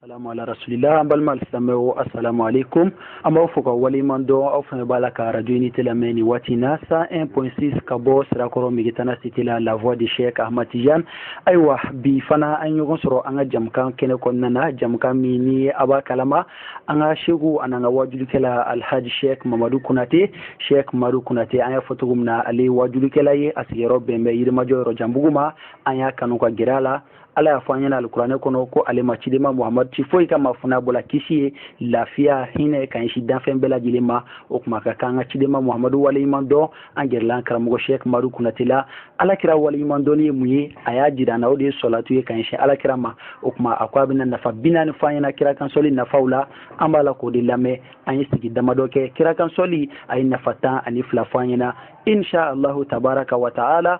salamu ala rasulila an balima alisilamɛw asalamu aleykum an b'aw fo ka waleɲuman dɔn aw fana b'a la ka radio unité lamɛn nin waati na 101.6 ka bɔ sirakɔrɔ megitana cité la la voix de cheikh ahmad tijan ayiwa bi fana an ɲɔgɔn sɔrɔ an ka jamukan kɛnɛ kɔnɔna na jamukan min ni a b'a kalama an ka seku an'an ka wajulikɛla alhaji sheikh mamadu konate sheikh mamadu konate an y'a fɔ cogo min na ale ye wajulikɛla ye a sigiyɔrɔ bɛn bɛ yirimajɔ yɔrɔjanbugu ma an y'a kanu ka gɛrɛ a la ala y'a fɔ an ɲɛna alikuranɛ kɔnɔ ko ale ma cidema muhamadu ci foyi kama fo n'a bɔla kisi ye lafiya hinɛ ka ɲɛsin danfɛn bɛɛ lajɛlen ma o kuma ka kan ka cidema muhamadu waleɲuman dɔn an gɛrɛla an karamɔgɔ sheikh madu konate la ala kira waleɲuman dɔnni ye mun ye a y'a jira an na o de ye sɔlatu ye ka ɲɛsin ala kira ma o kuma a ko a bɛna nafa bi naani fɔ an ɲɛna kira kansɔli nafaw la an b'a la k'o de lamɛn an ye sigi damadɔ kɛ kira kansɔli a ye nafa tan ani fila fɔ an ɲɛna insha allahu tabaraka wa taala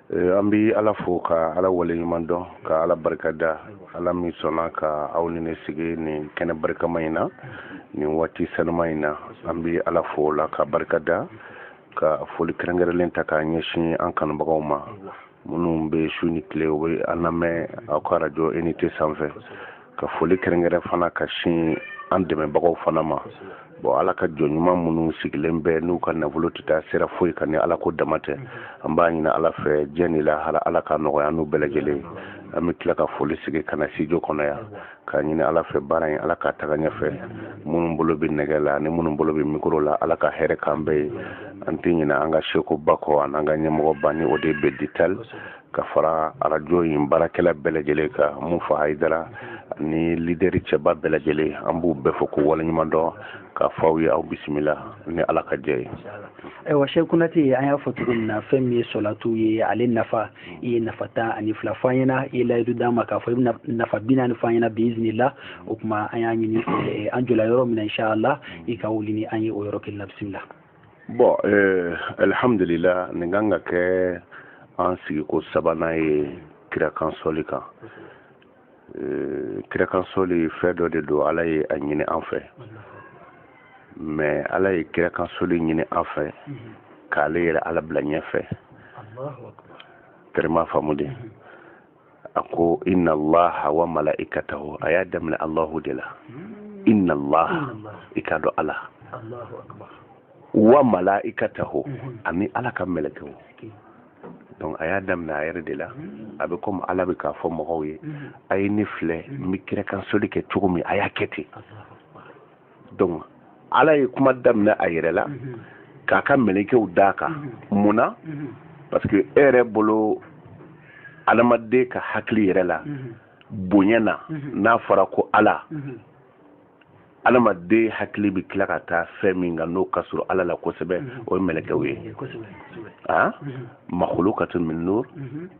eh, an bɛ ala fo ka ala waleɲuman dɔn ka ala barika da ala min sɔnna ka aw ni ne sigi nin kɛnɛ barikama in na nin waati sanuma in na an bɛ ala fo o la ka barika da ka foli kɛrɛnkɛrɛnlen ta k'a ɲɛsin an kanubagaw ma minnu bɛ su ni tile u bɛ an lamɛn aw ka arajo unité sanfɛ ka foli kɛrɛnkɛrɛn fana ka sin an dɛmɛbagaw fana ma bon ala ka jɔn ɲuman minnu sigilen bɛ n'u ka nafolo tɛ taa sira foyi kan ni ala ko dama tɛ an b'a ɲini ala fɛ diɲɛ ni lahara ala ka nɔgɔya n'u bɛɛ lajɛlen an bɛ tila ka foli segin ka na studio kɔnɔ yan k'a ɲini ala fɛ baara in ala ka taga ɲɛfɛ minnu bolo bɛ nɛgɛ la ani minnu bolo bɛ mikoro la ala ka hɛrɛ k'an bɛɛ ye an tɛ ɲinɛ an ka seku ba kɔ an'an ka ɲɛmɔgɔ ba ni o de bɛ ditali ka fara arajo in baarakɛla bɛɛ lajɛlen kan mufa hayidara ni lideri cɛba bɛɛ lajɛlen an b'u bɛɛ fo k'u waleɲuman dɔn k'a fɔ aw ye aw bisimila ni ala ka jɛ ye ayiwa sheikh konate an y'a fɔ cogo min na fɛn min ye sɔlatu ye ale nafa i ye nafa tan ani fila fɔ an ɲɛna i ye layidu d'an ma k'a fɔ i bɛna nafa bi naani fɔ an ɲɛna biizinila o kuma an y'a ɲini an jɔla yɔrɔ min na inshallah i ka wuli ni an ye o yɔrɔ kelen na bisimila bɔn eh, alihamdulila nin kan ka kɛ an sigiko sabanan ye kirakansɔli kan eh, kirakansɔli fɛn dɔ de don ala ye a ɲini an fɛ mais ala ye kirakansɔli ɲini an fɛ k'ale yɛrɛ ala bila ɲɛfɛ tɛrɛmu faamu dɛ a ko inna allaha wa mala'ikatahu a y'a daminɛ allahu de la inna allaha i ka dɔn ala wa mala'ikatahu mhm. ani ala ka mɛlɛkɛw donc a y'a daminɛ a yɛrɛ de la mhm. a bɛ komi ala bɛ k'a fɔ mɔgɔw ye mhm. a ye ne filɛ n bɛ kirakansɔli kɛ cogo min a y'a kɛ ten donc ala ye kuma daminɛ a yɛrɛ la mhm. k'a ka mɛlɛkɛw d'a kan mhm. mun na mhm. parce que e yɛrɛ bolo adamaden ka hakili yɛrɛ la bonya na n'a fɔra ko ala adamaden hakili bɛ tila ka taa fɛn min kan n'o ka surun ala la kosɛbɛ o ye mɛlɛkɛw ye makhluqatun min nur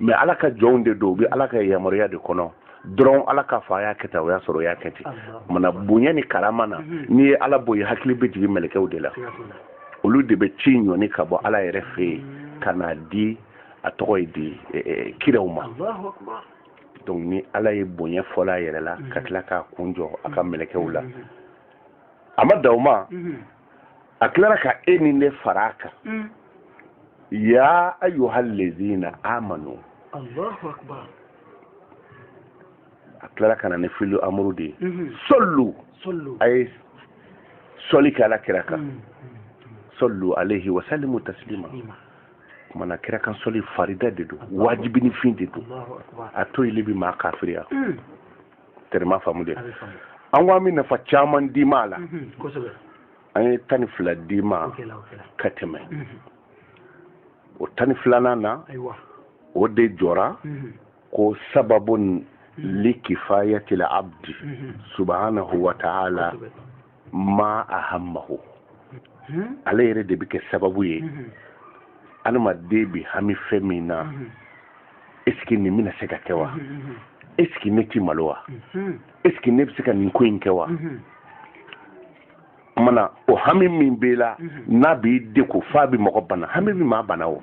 mais ala ka jɔnw de don u bɛ ala ka yamaruya de kɔnɔ dɔrɔn ala k'a fɔ a y'a kɛ tan o y'a sɔrɔ o y'a kɛ ten mana bonya ni karama na mhm. n'i ye ala bɔ yen hakili bɛ jigin mɛlɛkɛw de la olu de bɛ ci ɲɔni ka bɔ ala yɛrɛ fɛ yen mhm. ka n'a di a tɔgɔ ye di e, e, kiraw ma donc ni ala ye bonya fɔlɔ a yɛrɛ la ka mhm. tila k'a kun jɔ a ka mɛlɛkɛw la a ma dan o ma a tilara ka e ni ne fara a kan mm. ya ayyuhal lazina amanu Allahu akbar a tilara ka na ni filu amuru de ye mm-hmm. sollu a ye sɔli kɛ ala kira kan mm. sallu alaihi wa sallimu taslima kumana kira kan sɔli farida de don wajibini fɛn de don a toyili bi maa kafiriya mm. tɛrɛ m'a faamu dɛ an ko an bɛ nafa caman d'i ma a la an ye tan ni fila d'i ma ka tɛmɛ o tan ni filanan na o de jɔra ko sababun li kifayatil abdi subhanahu wa ta'ala ma ahammahu hmm? ale yɛrɛ de bɛ kɛ sababu ye hmm. adamaden bɛ hami fɛn min na hmm. est-ce que nin bɛna se ka kɛ wa est-ce que ne ti malo wa est-ce que ne bɛ se ka nin ko in kɛ wa mana o hami min b'i la n'a b'i degun f'a bɛ mɔgɔ bana hami bɛ maa bana o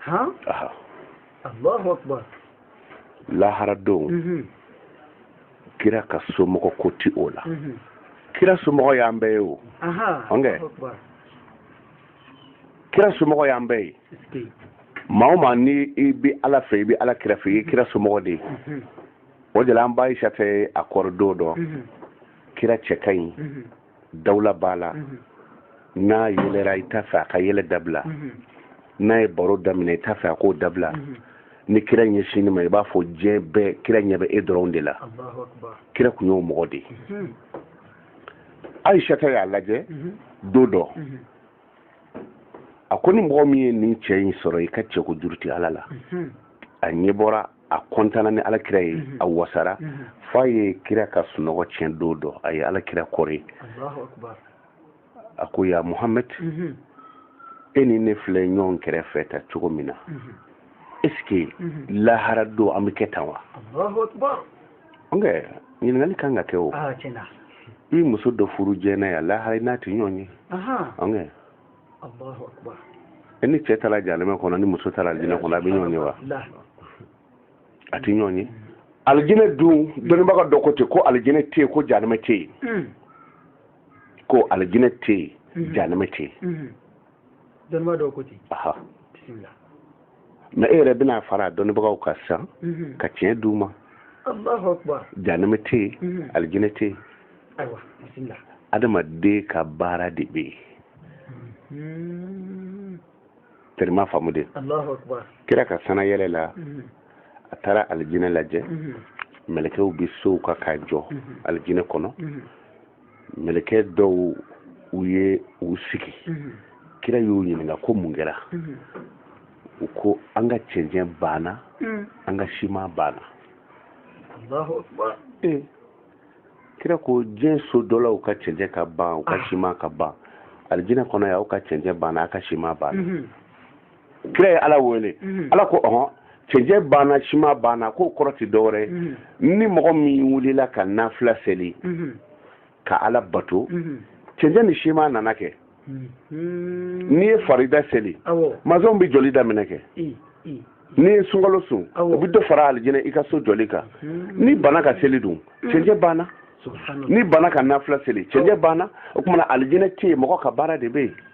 han aha allahu akbar lahara don mhm. kira ka somɔgɔ ko ti o la mhm. kira somɔgɔ y'an bɛɛ ye o ɔnkɛ kira somɔgɔ y'an bɛɛ ye maa o maa ni i bi ala fɛ i bi ala kira fɛ i ye kira somɔgɔ de ye mhm. o de la an ba ayisata a kɔrɔ don dɔ kira cɛ ka ɲi dawula b'a la n'a yɛlɛra i t'a fɛ a ka yɛlɛ dabila n'a ye baro daminɛ i t'a fɛ a k'o dabila ni kira ɲɛsinn'i ma i b'a fɔ diɲɛ bɛɛ kira ɲɛ bɛ e dɔrɔn de la kira tun y'o mɔgɔ de ye ayisata y'a lajɛ don dɔ a ko ni mɔgɔ min ye nin cɛ in sɔrɔ i ka cɛko juru tɛ ala la a ɲɛ bɔra a kɔntanna ni alakira ye mhm. a wasara mhm. f'a ye kira ka sunɔgɔ tiɲɛ don dɔ a ye alakira kɔre alahu akibaru a ko ya muhamad mhm. e ni ne filɛ ɲɔgɔn kɛrɛfɛ tan cogo min na eske lahara don an bɛ kɛ tan wa alahu akibaru ɔn kɛ ɲininkali kan ka kɛ o ah, i muso dɔ furu diɲɛ na yan lahara i n'a tɛ ɲɔgɔn ye e ni cɛ taara jahanama kɔnɔ ni muso taara alijinɛ kɔnɔ a bɛ ɲɔgɔn ye wa a tɛ ɲɔgɔn ye alijinɛ dun dɔnnibaga dɔ ko ten ko alijinɛ tɛ yen ko jahanama tɛ yen hmm. ko alijinɛ tɛ yen hmm. jahanama tɛ yen hmm. dɔnnibaga dɔ ko ten bisimila ne yɛrɛ bɛna fara dɔnnibagaw kan sa mhm. ka tiɲɛ d'u ma alahu akibaru janama tɛ yen mhm. alijinɛ tɛ yen adamaden ka baara de bɛ yen terima faamu dɛ alahu akibaru kira ka san na yɛlɛ la a taara alijinɛ lajɛ mɛlɛkɛw bɛ sow kan k'a jɔ alijinɛ kɔnɔ mɛlɛkɛ dɔw u ye u sigi mhm. kira y'u ɲininka ko mun kɛra mhm. u ko an ka cɛncɛn banna mhm. an ka siman banna alahu akibaru kira ko diɲɛ so dɔlaw ka cɛncɛn ka ban u ka ah. siman ka ban alijinɛ kɔnɔ yan aw ka cɛncɛn banna aw ka siman banna kira ye ala wele mhm. ala ko ɔhɔn cɛncɛn banna siman banna k'o kɔrɔ tɛ dɔwɛrɛ mhm. ni mɔgɔ min wulila ka nafila seli mhm. ka ala bato cɛncɛn ni siman nana kɛ n'i ye farida seli masɔn bɛ jɔli daminɛ kɛ n'i ye sunkalo sun o bɛ dɔ fara alijinɛ i ka so jɔli kan n'i banna ka seli dun cɛncɛn banna n'i banna ka nafila seli cɛncɛn banna o tuma na alijinɛ tɛ yen mɔgɔ ka baara de bɛ yen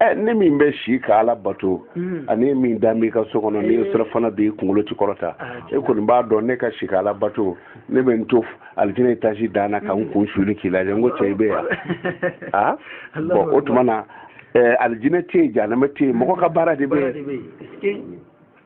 ɛ ne min bɛ si ka ala bato mm. ani e min dalen b'i ka so kɔnɔ ni eh. sira fana b'i kunkolo tɛ kɔrɔta ah, e kɔni b'a dɔn ne ka si ka ala bato ne bɛ n to alijinɛ etazi dan na ka n mm. kun suli k'i lajɛ n ko cɛ i bɛ yan a bɔn o tuma na alijinɛ tɛ yen janama tɛ yen mɔgɔ ka baara de bɛ yen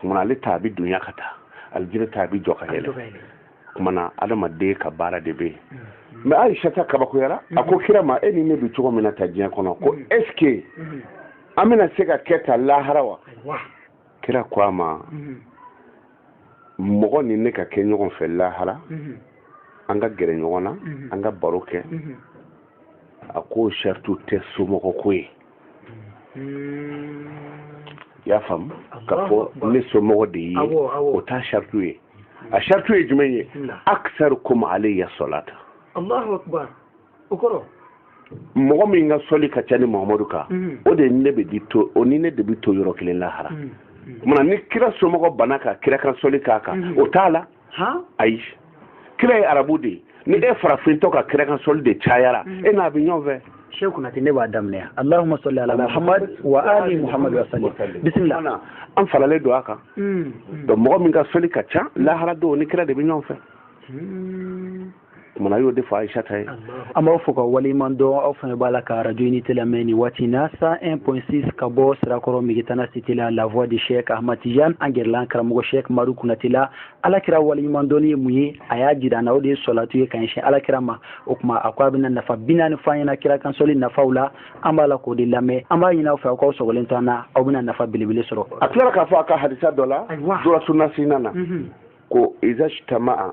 tuma na ale ta a bɛ dunya ka taa alijinɛ ta a bɛ jɔ ka yɛlɛ tuma na adamaden ka baara de bɛ yen mɛ ayisata kabakoyara a ko kira ma e ni ne bɛ cogo min na tan diɲɛ kɔnɔ ko ɛsike an bɛna se ka kɛ tan lahara wa kira ko a ma mɔgɔ ni ne ka kɛ ɲɔgɔn fɛ lahara an ka gɛrɛ ɲɔgɔn na an ka baro kɛ a ko saritu tɛ somɔgɔ ko ye hmm. i y'a faamu k'a fɔ ne somɔgɔ de ye o t'a saratu ye a saratu ye jumɛn ye aksarukum alayya salata allahu akbar o kɔrɔ mɔgɔ min ka sɔli ka ca ne mahamadu kan hmm. o de ne bɛ di to o ni ne de bɛ to yɔrɔ kelen lahara hmm. mana ni kira somɔgɔ banna ka kira kan sɔli k'a kan o t'a la ayi kira ye arabu de ye ni e farafintɔ ka kira kan sɔli de cayara mm. e n'a bɛ ɲɔgɔn fɛ sheikh kunate ne b'a daminɛ allahumma salli ala muhammad wa ali muhammad wa sallim bisimila an faralen don a kan mm. donc mɔgɔ min ka sɔli ka ca lahara don ni kira de bɛ ɲɔgɔn fɛ mm. kumana y'o de fɔ ayisata ye an b'aw fo ka waleɲuman dɔn aw fana b'a la ka arajo unité lamɛn nin waati na 101.6 ka bɔ sirakɔrɔ megetana cité la la voix de chek ahmad tijan an gɛrɛla an karamɔgɔ chek madu kunate la ala kira waleɲuman dɔnni ye mun ye a y'a jira an na o de ye sɔlatu ye ka ɲɛsin ala kira ma o tuma a ko a bɛna nafa bi naani fɔ an ɲɛna kira kansɔli nafaw la an b'a la k'o de lamɛn an b'a ɲini aw fɛ aw k'aw sɔgɔlen to an na aw bɛna nafa belebele sɔrɔ a tilara k'a fɔ a ka hadisa dɔ la duratu nasihina na ko iza ijtama'a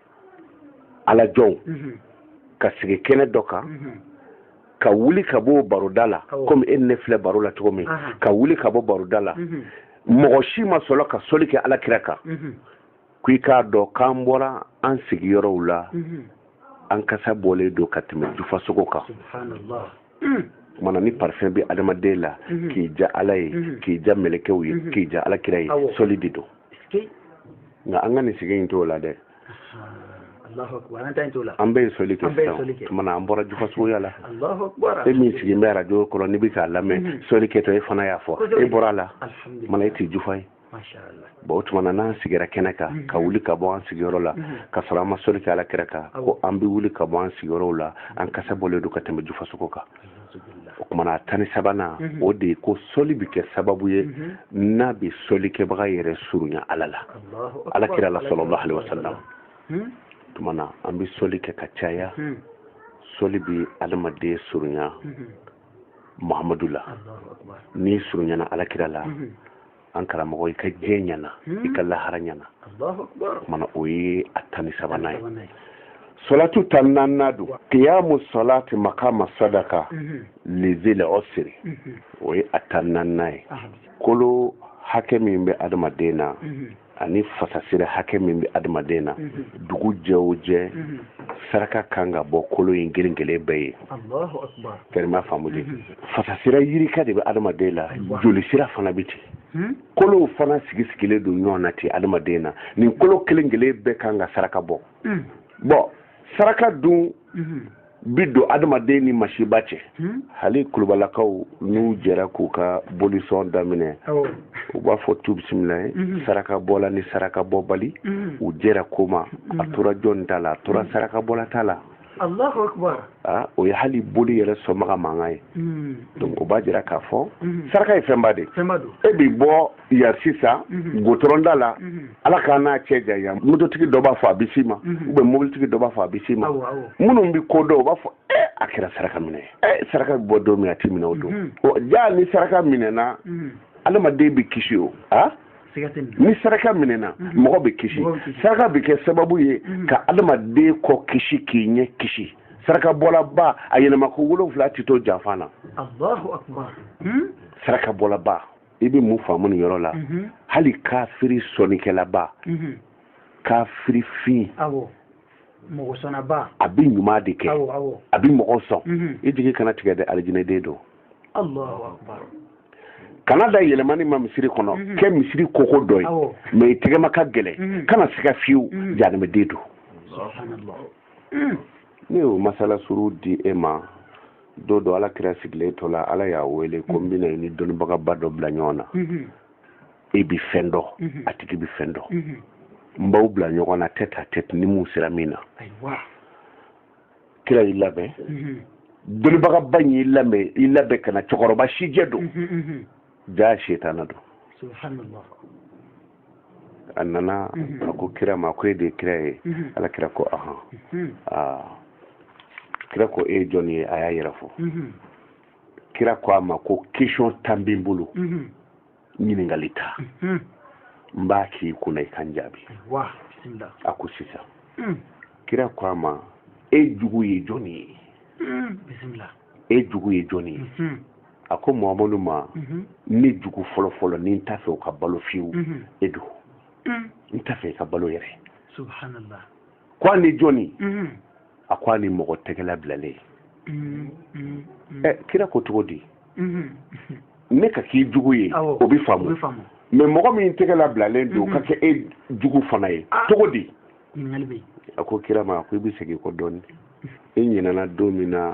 ala jɔnw mhm. ka sigi kɛnɛ dɔ kan mhm. ka wuli ka bɔ baroda la komi e ne filɛ baro la cogo min ka wuli ka bɔ baroda la mhm. mɔgɔ si ma sɔrɔ ka soli kɛ ala kira kan ko i k'a dɔn k'an bɔra an sigiyɔrɔw la an kasa bɔlen don ka tɛmɛ jufasogo kan mana ni parfum bɛ adamaden la k'i ja ala ye k'i ja mɛlɛkɛw ye k'i ja ala kira ye soli de don nka an ka nin sigi in t'o la dɛ an bɛ soli kɛ sisan tuma na an bɔra jufasogoya la e min sigilen bɛ arajo kɔrɔ n'i bɛ k'a lamɛn mhm. soli kɛtɔ e fana y'a fɔ e bɔra a la tuma na e tɛ jufa ye bon o tuma na n'an sigira kɛnɛ kan mhm. ka wuli ka bɔ an sigiyɔrɔ la mhm. ka sɔrɔ an ma soli kɛ ala kira kan ko an bɛ wuli ka bɔ an sigiyɔrɔw la an kasa bɔlen don ka tɛmɛ jufasogo kan o kumana a tan ni sabanan mhm. o de ye ko sɔli bɛ kɛ sababu ye mhm. n'a bɛ sɔlikɛbaga yɛrɛ surunya ala la ala kira la sallallahu alayhi wa sallam mhm. tumana an bɛ sɔli kɛ ka caya sɔli bɛ adamaden surunya muhamadu la n'i surunyana ala kira la an karamɔgɔ i ka diɲɛ ɲɛna i ka lahara ɲɛna mana o ye a tan ni sabanan ye solatu tan naaninan don kiyamu solati makama sadaka lizil usri o ye a tan naaninan ye kolo hakɛ min bɛ adamaden na ani fasasira hakɛ min bɛ adamaden na dugu jɛ o jɛ saraka kan ka bɔ kolo in kelen kelen bɛɛ ye fɛrɛma faamu de fasasira yirika de bɛ adamaden la joli sira fana bɛ ten hmm? kolow fana sigi sigilen don ɲɔgɔn na ten adamaden na nin kolo kelen kelen bɛɛ kan ka saraka bɔ hmm. bɔn saraka dun hmm. bi don adamaden ni masiba cɛ hali kulubalakaw n'u jɛra k'u ka bolisɔn daminɛ u b'a fɔ tu bisimila ye saraka bɔla ni saraka bɔbali u jɛra ko ma a tora jɔn ta la a tora saraka bɔla ta la Allahu akbar ah, o ye hali boli yɛrɛ sɔnbaga mankan ye hmm. donc o b'a jira k'a fɔ hmm. saraka ye fɛnba de e bi bɔ yan sisan hmm. gotɔrɔnda la ala k'an n'a cɛ janya mototigi dɔ b'a fɔ a bɛ s'i ma ou bien mobilitigi dɔ b'a fɔ a bɛ s'i ma minnu bɛ ko dɔn o b'a fɔ e a kɛra saraka minɛ ye eh, saraka bɛ bɔ don min a ti minɛ o don jaa ni saraka minɛna adamaden bɛ kisi wa ah? ni saraka minɛna mhm. mɔgɔ bɛ kisi saraka bɛ kɛ sababu ye mhm. ka adamaden kɔ kisi k'i ɲɛ kisi saraka bɔlaba a yɛlɛma ko wolonwula tɛ to janfa na hmm? saraka bɔlaba i bɛ mun faamu nin yɔrɔ la mhm. hali kafiri sɔnnikɛlaba kafiri fin mɔgɔ sɔnnaba a bɛ ɲuman de kɛ a bɛ mɔgɔ sɔn i jigi kana tigɛ dɛ alijinɛden don kana da yɛlɛmani ma misiri kɔnɔ mhm. kɛ misiri koko dɔ ye mais i tɛgɛma ka gɛlɛn mhm. kana siga fiyewu mhm. janimɛden don ne y'o masala surun di e ma don dɔ ala kira sigilen to la ala y'a wele ko n bɛna i ni dɔnnibagaba dɔ bila ɲɔgɔn na e bi fɛn dɔn a tigi bi fɛn dɔn n b'aw bila ɲɔgɔn na tête à tête ni mun sera min na kira y'i labɛn dɔnnibagaba in y'i labɛn i labɛn ka na cɛkɔrɔba sijɛ don jaa setana don a nana a ko kira ma ko e de ye kira ye ala kira ko ahan kira ko e ye jɔnni ye a y'a yɛrɛ fɔ kira ko a ma ko question tan bɛ n bolo ɲininkali tan mhm. n b'a k'i kunna i ka n jaabi a ko sisan mhm. kira ko a ma e jugu ye jɔni ye mhm. e jugu ye jɔni ye a ko mamadu ma ne jugu fɔlɔfɔlɔ ni n t'a fɛ o ka balo fiyewu e don n t'a fɛ i ka balo yɛrɛ ko ani jɔni a ko ani mɔgɔ tɛgɛ labilalen ɛ kira ko cogo di ne ka k'i jugu ye o bɛ faamu mais mɔgɔ min tɛgɛ labilalen don ka kɛ e jugu fana ye cogo di a ko kira ma a ko i bɛ segin kɔ dɔɔnin i ɲinɛna don min na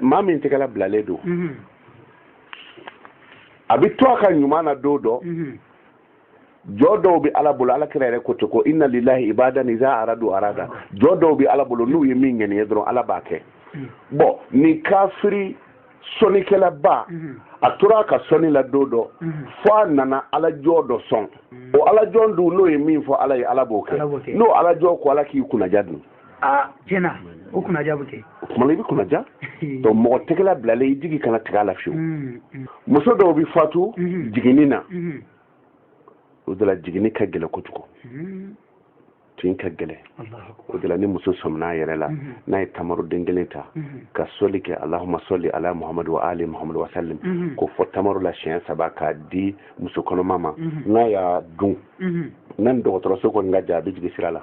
maa min tɛgɛla bilalen don mhm. a bɛ to a ka ɲuman na don dɔ mhm. jɔn dɔw bɛ ala bolo ala kira yɛrɛ ko ten ko inna lillahi ibadan iza aradu arada jɔn dɔw bɛ ala bolo n'u ye min ŋaniya dɔrɔn ala b'a kɛ mhm. bɔn nin kafiri sɔnikɛlaba a tora a ka sɔni la don dɔ fo a nana alajɔn dɔ sɔn o alajɔn dun n'o ye min fɔ ala ye ala b'o kɛ n'o alajɔn ko ala k'i kunnaja dun aa tiɲɛ na o kunnaja bɛ kɛ o tuma na i bɛ kunnaja donc mɔgɔ tɛgɛla bilalen i jigi kana tigɛ a la fiyewu mm, mm. muso dɔw bɛ fatu mm-hmm. jiginni na mm-hmm. u dɔw la jiginni ka gɛlɛ kojugu mm-hmm. tin ka gɛlɛ u dɔw la ni muso sɔmina a yɛrɛ la n'a ye tamaruden kelen ta ka sɔli kɛ alahuma sɔli ala muhamadu wa ali muhamadu wa salim k'o fɔ tamaro la siɲɛ saba k'a di muso kɔnɔma ma n'a y'a dun n'a ni dɔgɔtɔrɔso kɔni ka jan a bɛ jigin sira la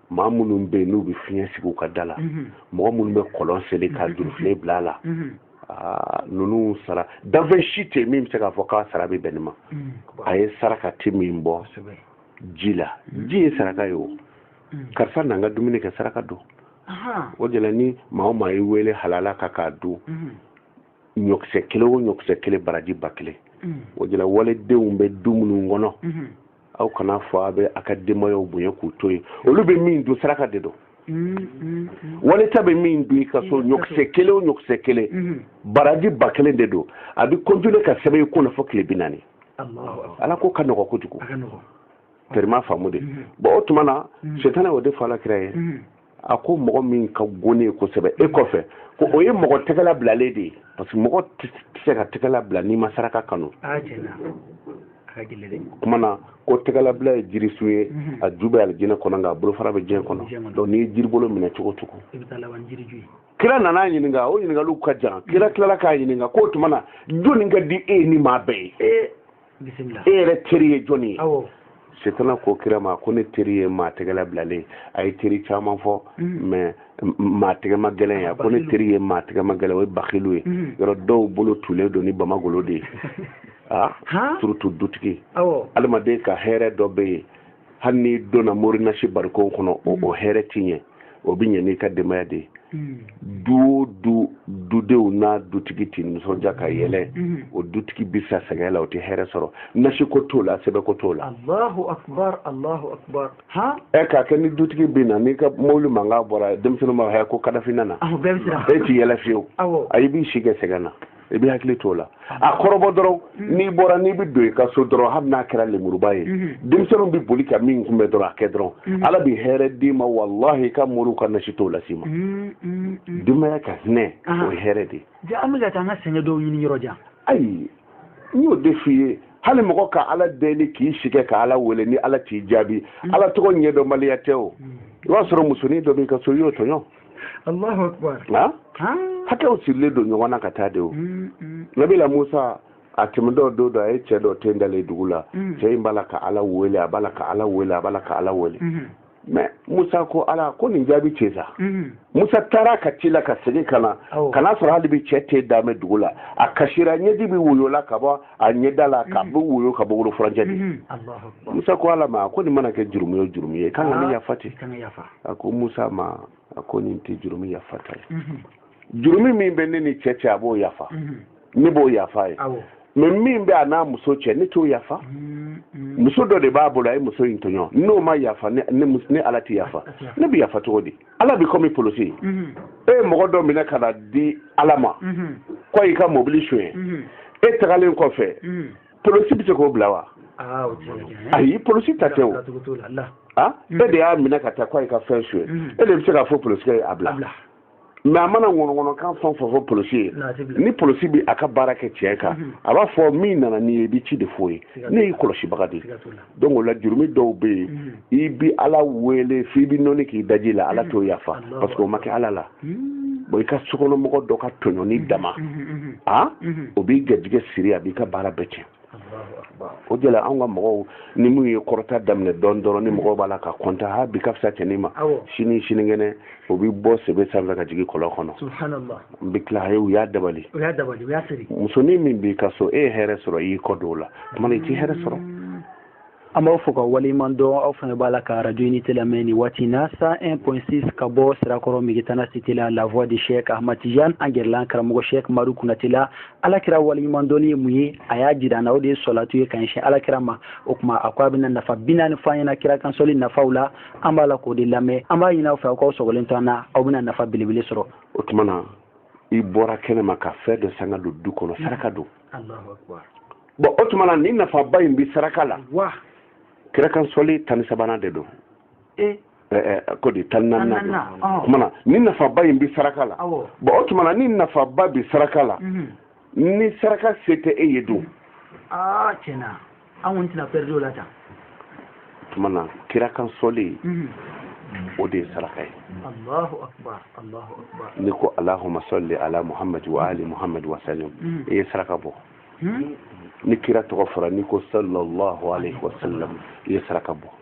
maa minnu bɛ yen n'u bɛ fiɲɛ sigi u ka da la mhm. mɔgɔ minnu bɛ kɔlɔn seli ka mhm. jurufilen bila a la mhm. ah, ninnu sara danfɛn si tɛ min bɛ se k'a fɔ k'a sara bɛ bɛn nin ma a ye saraka ti min bɔ ji la ji ye saraka ye o karisa n'an ka dumuni kɛ saraka don o de la ni maa o maa y'i wele halala ka k'a dun ɲɔkisɛ kelen o ɲɔkisɛ kelen baraji ba kelen mm. o de la walidenw bɛ du minnu kɔnɔ mm-hmm. aw kana fɔ a bɛ a ka denbayaw bonya k'u to yen olu bɛ min dun saraka de don mm-hmm. wali ta bɛ min dun i ka so ɲɔkisɛ kelen o ɲɔkisɛ kelen mm-hmm. baraji ba kelen de don a bɛ continuer ka sɛbɛn i kunna fo tile bi naani ala ko ka nɔgɔ kojugu tɛri ma faamu de bɔn o tuma na setana o de fɔ ala kira ye a ko mɔgɔ min ka go ne ye kosɛbɛ e kɔfɛ ko o ye mɔgɔ tɛgɛla bilalen de ye parce que mɔgɔ tɛ se ka tɛgɛla bila n'i ma saraka kanu kuma na ko tɛgɛlabila ye jirisun ye mhm. a ju bɛ alijinɛ kɔnɔ nka a bolofara bɛ diɲɛ kɔnɔ donc n'i ye jiribolo minɛ cogo cogo kira nana ɲininka o ɲininkaliw ka jan kira tilala k'a ɲininka k'o tuma na jɔni ka di e ni maa bɛɛ ye e yɛrɛ teri ye jɔni ye setana ko kira ma ko ne teri ye maa tɛgɛla bilalen a ye teri caman fɔ mm. mais maa tɛgɛma gɛlɛn ye a ko ne teri ye maa tɛgɛma gɛlɛn o ye bakilu ye mm. yɔrɔ dɔw bolo tulen don ni bamagolo de ye a ah, surtout dutigi adamaden ka hɛrɛ dɔ bɛ yen hali n'i donna mori nasi barikon kɔnɔ o mm. hɛrɛ ti ɲɛ o bɛ ɲɛ n'i ka denbaya de ye mm. du o du dudenw n'a dutigi ti nisɔndiya ka yɛlɛ mm. o dutigi bɛ sa sɛgɛn la o tɛ hɛrɛ sɔrɔ nasiko t'o la sɛbɛko t'o la. alahu akubar alahu akubar. ɛ k'a kɛ ni dutigi bɛ na n'i ka mobili mankan bɔra denmisɛnninw b'a fɔ ko kadafi nana. e ti yɛlɛ fiyewu. ayi b'i si kɛ sɛgɛn na. i bɛ hakili t'o la a kɔrɔbɔ dɔrɔn mm-hmm. n'i bɔra n'i bɛ don i ka so dɔrɔn hali n'a kɛra lemuruba ye mm-hmm. denmisɛnninw bɛ boli ka min kunbɛn dɔrɔn a kɛ dɔrɔn mm-hmm. ala bɛ hɛrɛ d'i ma walahi i ka moriw ka nasi t'o las'i ma denbaya ka hinɛ ah. o ye hɛrɛ de ye an bɛ ka taa an ka sɛgɛn dɔw ɲini yɔrɔ jan ayi n y'o de f'i ye hali mɔgɔ ka ala deli k'i sɛgɛn ka ala wele ni ala t'i jaabi ala tɔgɔ ɲɛdɔnbaliya tɛ o i b'a sɔrɔ musonin dɔ b'i ka so i y'o tɔɲɔ Allahu akbar hakɛw sirilen don ɲɔgɔn na ka taa de o mm, mm. nabila musa a tɛmɛtɔ don dɔ a ye cɛ dɔ ten dalen dugu la mm. cɛ in b'a la ka ala wele a b'a la ka ala wele a b'a la ka ala wele mm-hmm. mais musa ko ala ko nin jaabi cɛ sa mm-hmm. musa taara ka ci la ka segin ka na ka n'a sɔrɔ hali bi cɛ ten dalen bɛ dugu la a kasira ɲɛji bɛ woyo la ka bɔ a ɲɛda la ka mm-hmm. bɛ woyo ka bɔ wolo furancɛ de musa ko ala ma ko nin mana kɛ jurumu ye jurumu ye kan ka nin ah, yafa ten a ko musa ma a ko nin tɛ jurumi yafata ye mhm. jurumi min bɛ ne ni cɛ cɛ a b'o yafa mhm. ne b'o yafa ye mais min bɛ a n'a muso cɛ ne t'o yafa mhm. muso dɔ de b'a bolo a ye muso in tɔɲɔ n'o ma yafa ne ala tɛ yafa ne bɛ yafa cogo di ala bɛ kɔmi polosi ye e ye mɔgɔ dɔ minɛ ka n'a di ala ma k'o y'i ka mobili sonya e tagalen kɔfɛ polosi bɛ se k'o bila wa ah, ayi polosi ta tɛ o ah, mm. e de y'a minɛ ka taa k'a y'i ka fɛn sonya mm. e de bɛ se k'a fɔ polosi ye a bila mais a mana ŋɔnɔŋɔnɔkan fɛn o fɛn fɔ polosi ye ni polosi bɛ a ka baara kɛ tiɲɛ kan mm-hmm. a b'a fɔ min nana n'i ye i bɛ ci de f'o ye ne y'i kɔlɔsibaga de ye donc o la jurumi dɔw bɛ yen mm. i bi ala wele f'i bi nɔni k'i daji la ala mm. t'o yafa parce que o ma kɛ ala la mm. bon i ka sokɔnɔmɔgɔ dɔ ka tɔɲɔni dama o b'i garijɛgɛ siri a b'i ka baara bɛɛ tiɲɛ o de la anw ka mɔgɔw ni min ye kɔrɔta daminɛ dɔɔni dɔrɔn ni mɔgɔw b'a la ka kɔntan ha bi ka fisa cɛnin ma sini sinikɛnɛ o bɛ bɔ sebe sanfɛ ka jigin kɔlɔn kɔnɔ n bɛ tila u y'a dabali musonin min b'i ka so e ye hɛrɛ sɔrɔ i y'i kɔ don o la tuma i tɛ hɛrɛ sɔrɔ mm. an b'aw fo k'aw waleɲuman dɔn aw fana b'a la ka radio unité lamɛn ni waati in na 101.6 ka bɔ sirakɔrɔ migitana cité la la voix de Cheikh Ahmad Tidiane an gɛrɛ la karamɔgɔ Cheikh maru kunate la ala kira waleɲuman dɔnni ye mun ye a y'a jira an na o de ye sɔlatu ye ka ɲɛsin ala kira ma o tuma a ko a bɛna nafa binaani fɔ an ɲɛna kira kan sɔli nafaw la an b'a la k'o de lamɛn an b'a ɲini aw fɛ aw k'aw sɔgɔlen to an na aw bɛna nafa belebele sɔrɔ o tuma na i bɔra kɛnɛ ma ka fɛn dɔ san k'a don du kɔnɔ saraka don bon o tuma na ni nafaba in bɛ saraka la kira kan sɔli tan ni sabanan de don e? ko di tan ni naaninan don o tuma na ni nafaba in bɛ saraka la bon o tuma na ni nafaba bɛ saraka la mhm. ni saraka se tɛ e ye don ah, an kɔni tɛna pɛridi o la tan tuma na kira kan sɔli mhm. o de ye saraka ye allahu akbar n'i ko alahuma sɔli ala muhamadu wa ali muhamadu wa salim mhm. i ye saraka bɔ mhm. ni kira tɔgɔ fɔra n'i ko sallallahu alaihi wa sallam i ye saraka bɔ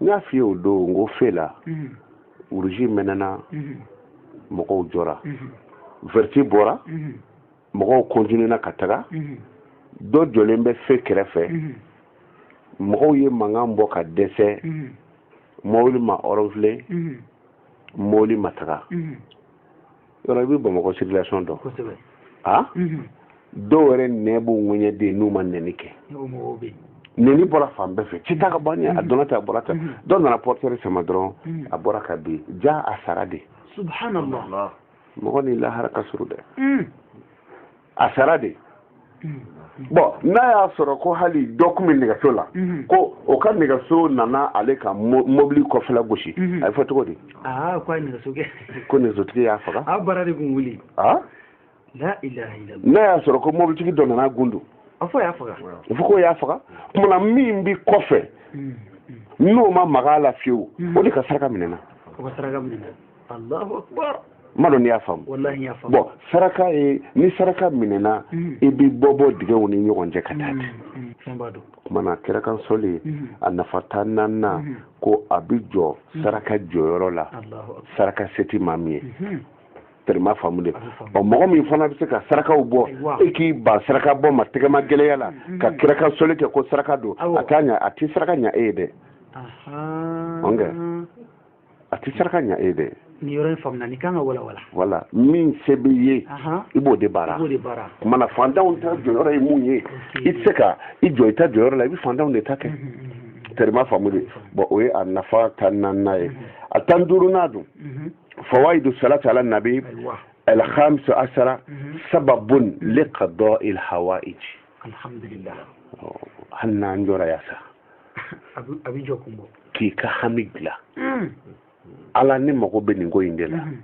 n y'a f'i ye o don n ko fe la uruzi mɛnɛna mɔgɔw jɔra vɛriti bɔra mɔgɔw kɔntinena ka taga dɔ jɔlen bɛ fe kɛrɛfɛ mɔgɔw ye mankan bɔ ka dɛsɛ mɔbili ma ɔrɔnfile mɔbili ma taga yɔrɔ i bɛ bamakɔ circulation dɔn kosɛbɛ a mhm. dɔw yɛrɛ nɛn b'u ŋɛɲɛ de n'u ma nɛni kɛ nɛni bɔra fan bɛɛ fɛ cɛ ta ka bɔ a mhm. donna ten a bɔra ten mhm. dɔ nana portière sama dɔrɔn a bɔra ka bin ja a sara de subhanallah mɔgɔ ni lahara ka surun dɛ a sara de bɔn n'a y'a sɔrɔ ko hali dɔ tun bɛ nɛgɛso la ko o ka nɛgɛso nana ale ka mobili kɔfɛla gosi a bɛ fɔ cogo di ko nɛgɛsotigi y'a faga n'a y'a sɔrɔ ko mobilitigi dɔ nana gundu a fɔ k'o y'a faga kuma na min bɛ kɔfɛ n'o ma mag'a la fiyewu o de ka saraka minɛna m'a dɔn n'i y'a faamu bɔn saraka ye ni saraka minɛna mm. i bɛ bɔ bɔ dingɛw ni ɲɔgɔn cɛ ka taa mm, mm, ten kuma na kira kan sɔli a nafa tan naaninan ko a bɛ jɔ saraka jɔyɔrɔ la saraka se tɛ maa min ye mm-hmm. tɛrɛ m'a faamu dɛ ɔ mɔgɔ min fana bɛ se ka sarakaw bɔ e k'i ban saraka bɔ ma tɛgɛmagɛlɛya la mm-hmm. ka kira kan sɔli kɛ ko saraka don a t'a ɲa a tɛ saraka ɲa e ye dɛ a tɛ saraka ɲa e dɛ nin yɔrɔ in faamuna nin kan ka walawala voilà min se b'i ye i b'o de baara kuma na faantanw ta jɔyɔrɔ ye mun ye i tɛ se ka i jɔ i ta jɔyɔrɔ la i bɛ faantanw de ta kɛ tɛrɛ m'a faamu dɛ bɔn o ye a nafa tan naaninan ye a tan duurunan dun fawaidu salati ala nabi alhamisa asara sababun li qada il hawaij alhamdulillah oh, hali n'an jɔra yan sa a bɛ jɔkun bɔ k'i ka hami dilan hmm. ala ne mago bɛ nin ko in de la hmm.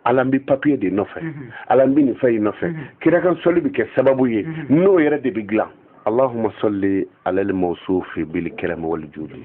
ala n bɛ papiye de nɔfɛ hmm. ala n bɛ nin fɛn in nɔfɛ kira kan sɔli bɛ kɛ sababu ye n'o yɛrɛ de bɛ dilan allahumma salli ala al-mawsufi bil karam wal judi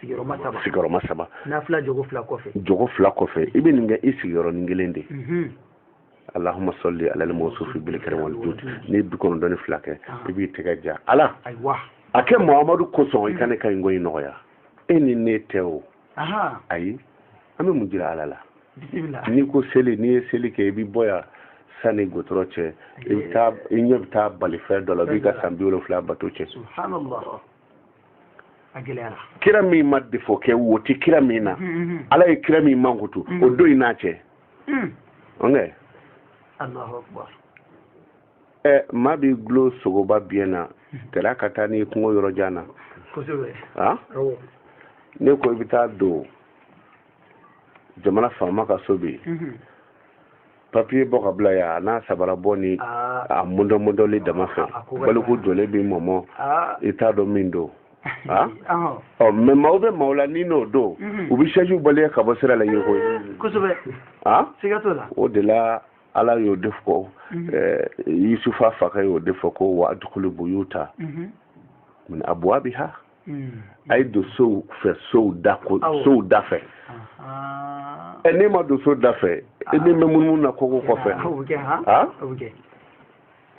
sigiyɔrɔma saba jɔko fila kɔfɛ i bɛ nin kɛ i sigiyɔrɔnin kelen de mhm. alahuma sɔli alali mɔsufi bil karam wal judi n'i ye bi kɔnɔntɔn ni fila kɛ ah. i b'i tɛgɛ ja ala a kɛ muhamadu kosɔn i ka ne ka nin ko in nɔgɔya e ni ne tɛ o ayi an bɛ mun jira ala la n'i ko seli n'i ye seli kɛ i bɛ bɔ yan sani gudɔrɔn cɛ i bɛ taa i ɲɛ bɛ taa balifɛn dɔ la o b'i ka san bi wolonfila bato tiɲɛ subhanallah kira min ma defo kɛ wo tɛ kira min na mm, mm, mm. ala ye kira min mankutu o don i n'a cɛ ɛ maa b'i dulon sogoba biɲɛ na tila ka taa n'i kungo yɔrɔ jan na a ne ko i bɛ taa don jamana faama ka so bi mhm. papiye bɔ ka bila yan ani sabara bɔ ni ah. a mɔdɔmɔdɔli dama fɛ ah, baliku jɔlen b'i mɔmɔ ah. i t'a dɔn min don ɔ oh, mɛ maaw bɛ maaw la n'i n'o don mhm. u bɛ sɛjiw baleye ka bɔ sira la i ye koyi o de la ala y'o de fɔ mhm. eh, yusufa fakɛ y'o de fɔ ko wa adukulu buyuta mhm. min abwabiha mhm. a ye don sow fɛ sow da ko sow da fɛ ɛ n'e ma don so da fɛ e na mɛn munumunu na koko kɔfɛ ha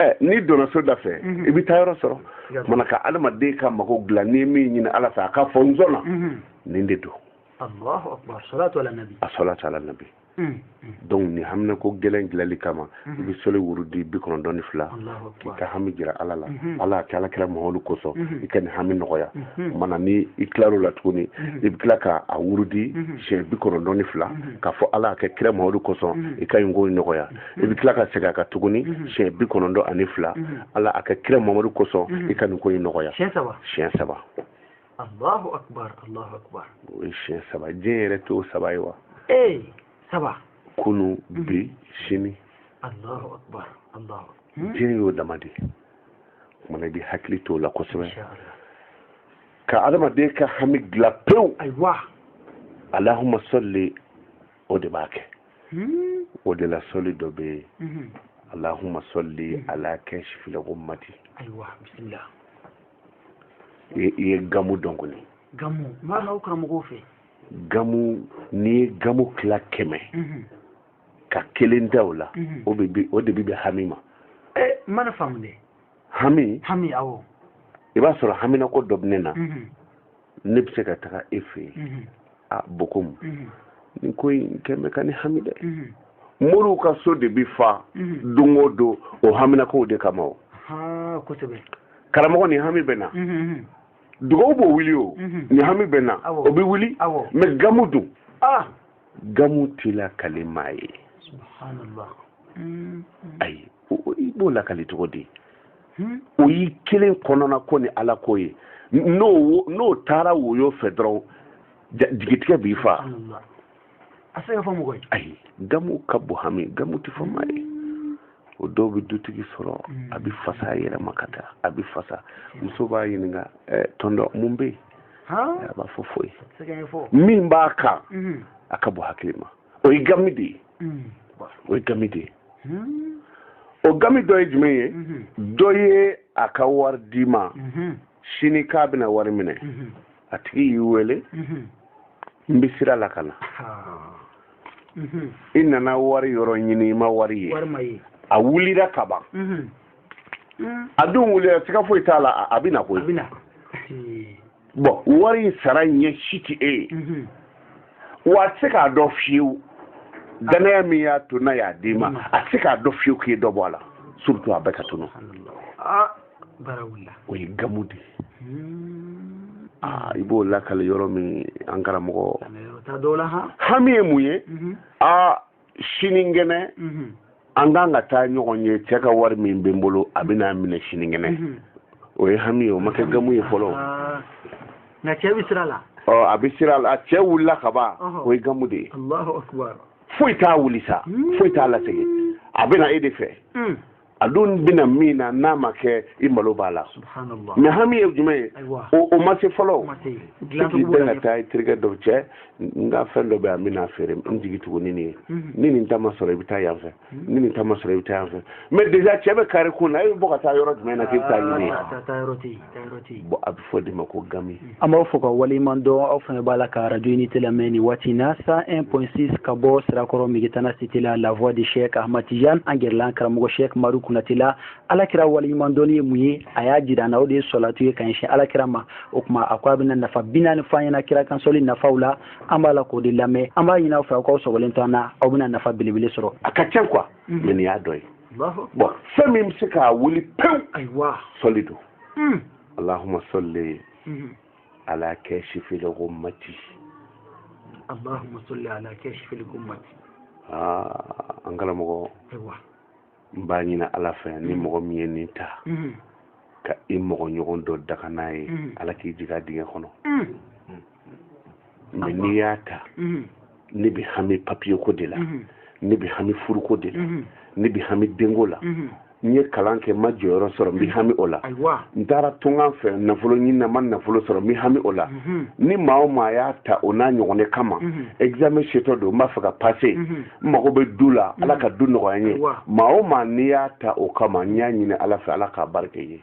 ɛ n'i donna so da fɛ i bɛ taa yɔrɔ sɔrɔ mana ka adamaden ka mago dilan n'i ye min ɲini ala fɛ a ka fɔ n sɔnna nin de don a sɔlatu ala nabi Hmm, hmm. donc nin haminako gɛlɛn dilali kama hmm. i bɛ sɔli wurudi bi kɔnɔntɔn ni fila k'i ka hami jira ala la ala a kɛ ala kira mamadu kosɔn i ka nin hami nɔgɔya mana ni i tilar'o la tuguni i bɛ tila ka a wurudi siɲɛ bi kɔnɔntɔn ni fila k'a fɔ ala a kɛ kira mamadu kosɔn i ka nin ko in nɔgɔya i bɛ tila ka segin a kan tuguni siɲɛ bi kɔnɔntɔn ani fila ala a kɛ kira mamadu kosɔn i ka nin ko in nɔgɔya siɲɛ saba Allahu akbar Allahu akbar o ye siɲɛ saba diɲɛ yɛrɛ t'o saba ye wa ee saba kunu mhm. bi sini Allahu akbar Allahu hmm? diɲɛ y'o dama de ye mana i bɛ hakili t'o la kosɛbɛ ka adamaden ka hami dilan pewu ayiwa alahuma sɔli o de b'a kɛ hmm? o de la sɔli dɔ bɛ yen mhm. alahuma sɔli hmm. ala kasifili gumati ayiwa bisimila i ye gamu dɔn kɔni gamu mana aw karamɔgɔw fɛ gamu n'i ye gamu tila kɛmɛ mhm. ka kelen ta o la mhm. o de bi bɛn hami ma eh, mana faamu dɛ hami hami awɔ i b'a sɔrɔ haminako dɔ bɛ ne na mhm. ne bɛ se ka taga e fɛ yen a bon komi nin ko in kɛ bɛ ka ne hami dɛ moriw ka so de bɛ fa don o don o haminakow de kama o ko karamɔgɔ nin hami bɛ n na dugaw b'o wuli o nin hami bɛ n na o bɛ wuli mɛ gamu dun gamu tɛ lakali maa ye subhanallah ayi i b'o lakali cogo di hmm? o y'i kelen kɔnɔna ko ni ala ko ye n'o taara woyo fɛ dɔrɔn jigitigɛ b'i fa a se ka fɔ mɔgɔ ye ayi gamu ka bon hami gamu tɛ fɔ maa ye o dɔw bɛ dutigi sɔrɔ hmm. a bɛ fasa a yɛrɛ ma ka taa a bɛ fasa muso b'a ɲininka eh, tɔndɔ mun bɛ yen a b'a fɔ foyi min b'a kan hmm. a ka bon hakili ma o ye gami de ye o ye gami de ye o gami dɔ ye jumɛn ye dɔ ye a ka wari d'i ma sini k'a bɛna wari minɛ a tigi y'i wele n bɛ sira la ka na i nana wari yɔrɔ ɲini i ma wari ye a wulira ka ban a dun wulira siga foyi t'a la a bɛ na koyi bon wari in sara ɲɛ si tɛ e ye mhm. wa a tɛ se k'a dɔn fiyewu dannaya min y'a to n'a y'a d'i ma mhm. a tɛ se k'a dɔn fiyewu k'i ye dɔ bɔ a la surtout a bɛɛ ka tunu ah, o ye gamu de ye hmm. ah, i b'o lakali yɔrɔ min an karamɔgɔ hami ye mun ye aa mhm. ah, sinikɛnɛ an kan ka taa ɲɔgɔn ye cɛ ka wari min bɛ n bolo a bɛ n'a minɛ sinikɛnɛ o ye hami ye o ma kɛ gamu ye fɔlɔ ah. nka cɛ bɛ sira la ɔ a bɛ sira la cɛ wulila ka ban o ye gamu de ye alahu akibaru foyi t'a wuli sa hmm. foyi t'a lasegin a bɛ na e de fɛ hmm. a dun bɛ na min na n'a ma kɛ i malo b'a la mais hami ye jumɛn ye o ma se fɔlɔ k'i bɛn ka taa i terikɛ dɔw cɛ n ka fɛn dɔ bɛ yan n bɛna feere n jigi tugu ni nin ye mhm. ni nin ta ma sɔrɔ i bɛ taa yan fɛ mhm. ni nin ta ma sɔrɔ i bɛ taa yan fɛ mais déjà cɛ bɛ kare kun na e bɛ bɔ ka taa yɔrɔ jumɛn na k'i bɛ taa ɲini yen bon a bɛ fɔ o de ma ko gami an b'aw fo k'aw waleɲuman dɔn aw fana b'a la ka arajo unité lamɛn nin waati na cent 1 point 6 ka bɔ sirakɔrɔ megetana cité la la voix de chek ahmad tijan an gɛrɛ la an karamɔgɔ chek madu kɔnatɛ la ala kira waleɲuman dɔnni ye mun ye a y'a jira an na o de ye sɔlatu ye ka ɲɛsin ala kira ma o tuma a ko a bɛna nafa bi naani fɔ an ɲɛna kira kan sɔli nafaw la an b'a la k'o de lamɛn an b'a ɲini aw fɛ aw k'aw sɔgɔlen to an na aw bɛna nafa belebele sɔrɔ a ka ca quoi mais nin y'a dɔ ye bon fɛn min bɛ se k'a wuli pewu ayiwa sɔli don hmm. alahuma sɔli hmm. ala kasifil gumati alahuma sɔli ala kasifil gumati aa ah, an karamɔgɔ ayiwa n b'a ɲini ala fɛ ni hmm. mɔgɔ min ye nin ta ka i mɔgɔ ɲɔgɔn dɔ danga n'a ye ala k'i jigin a dingɛ kɔnɔ mɛ n'i y'a ta mhm. ne bɛ hami papiye ko de la mhm. ne bɛ hami furuko de la mhm. ne bɛ hami denko la n ye kalan kɛ n ma jɔyɔrɔ sɔrɔ n bɛ hami o la n taara tunga fɛ nafolo ɲini na n ma nafolo sɔrɔ n bɛ hami o la ni maa o maa y'a ta o n'a ɲɔgɔn de kama examen setɔ don n b'a fɛ ka pase n mago bɛ du la ala ka du nɔgɔya n ye maa o maa n'i y'a ta o kama n y'a ɲini ala fɛ ala k'a barika i ye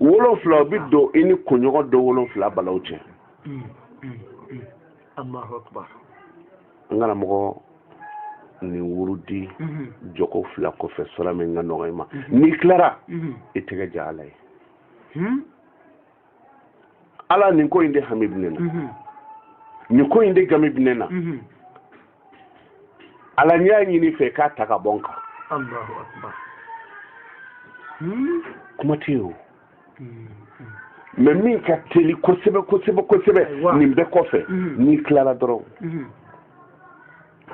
wolonfila o bi don i ni kunɲɔgɔn don wolonfila balaw cɛ Allahu akbar nka ni mɔgɔ ni wurudi mm-hmm. jɔko fila kɔfɛ sura min ka nɔgɔ i ma mm-hmm. n'i tilara mm-hmm. i tɛgɛ ja ala ye hmm? ala nin ko in de hami bɛ ne na nin ko in de gami bɛ ne na ala n y'a ɲini i fɛ k'a ta ka bɔ n kan Allahu akbar kuma tɛ yen o hmm, hmm. mɛ min ka teli kosɛbɛ kosɛbɛ kosɛbɛ nin bɛɛ kɔfɛ n'i tilara dɔrɔn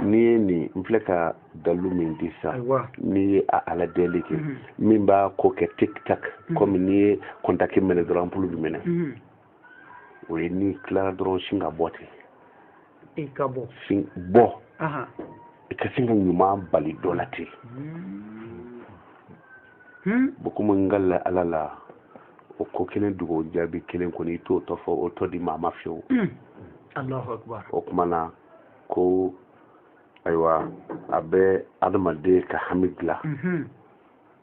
n'i ye nin n filɛ ka dalu min di sa n'i ye a ala deli kɛ min b'a ko kɛ tik tak komi n'i ye kɔntaki mɛnɛ dɔrɔn anpulu bɛ mɛnɛ o ye n'i tilara dɔrɔn sin ka bɔ ten i ka bɔ sin bɔ i ka sin ka ɲuman bali dɔ la ten hmm. hmm? bon komi n ka la ala la o ko kelen dugawu jaabi kelen kɔni i t'o tɔ fɔ o tɔ di maa ma fiyewu Allahu akbar o kuma na ko ayiwa a bɛ adamaden ka hami dilan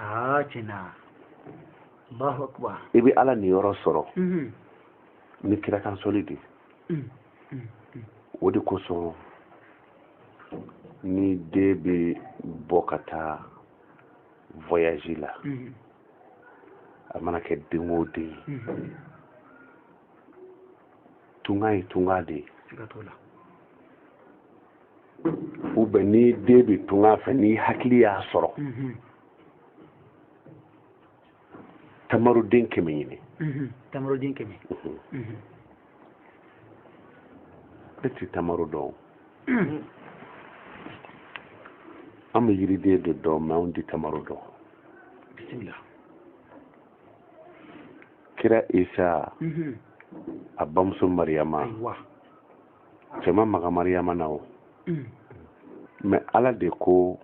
aa tiɲɛna Allahu akbar i bɛ Ala niyɔrɔ sɔrɔ ni kirakansɔli de o de kosɔn ni den bɛ bɔ ka taa voyage la a mana kɛ den o den ye tunga ye tunga de ye siga t'o la ou bien ni den bɛ tunga fɛ ni hakili y'a sɔrɔ tamaroden kɛmɛ ɲini tamaroden kɛmɛ e ti tamaro dɔn an bɛ yiriden de dɔn mɛ anw ti tamaro dɔn bisimila kira isa mhm. a bamuso mariyama cɛ ma maga mariyama na o mm. mɛ ala de ko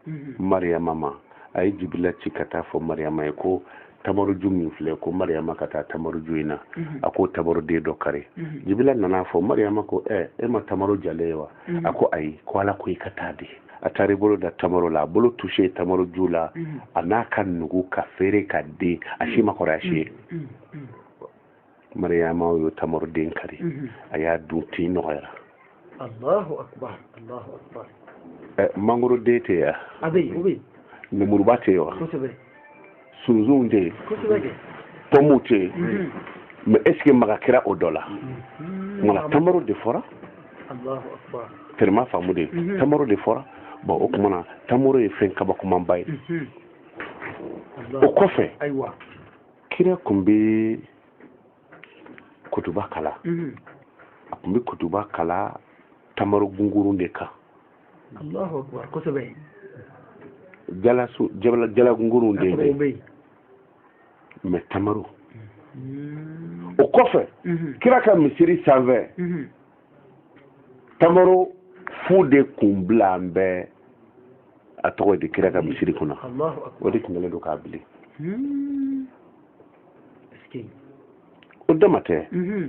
mhm. mariyama ma a ye jibila ci ka taa fɔ mariyama ye ko tamaroju min filɛ ko mariyama ka taa tamaroju in na mhm. a ko tamaroden dɔ kari jibila nana fɔ mariyama ko ɛ e ma tamaro jalen ye wa mm-hmm. a ko ayi ko ala ko i ka taa de a taara i bolo da tamaro la a bolo touché tamaro ju la mm-hmm. a n'a ka nugu ka feere ka den a si ma kɔrɔ a si ye mm-hmm. mariyama y'o tamaro den kari a y'a dun tin nɔgɔyara allahu akbar allahu akbar eh, mangoro den tɛ yen wa a bɛ yen o bɛ yen lemuruba tɛ yen wa kosɛbɛ sunsunw tɛ yen pɔmuw tɛ yen mhm. mais est-ce que maga kɛra o dɔ la mhm. nka tamaro de fɔra tellement faamu de mhm. tamaro de fɔra bon o tuma na tamaro ye fɛn kabakomanba ye o kɔfɛ kira kun bɛ kutuba kalan a kun bɛ kutuba kalan tamaro gungurun de kan Allahu akbar kosɛbɛ jalasun jala gungurun de bɛ yen mais tamaro mm. o kɔfɛ mm-hmm. kira ka misiri sanfɛ mm-hmm. tamaro fu de kun bilalen bɛ a tɔgɔ de kira ka misiri kunna o de tun kɛlen don k'a bili mm. o dama tɛ mm-hmm.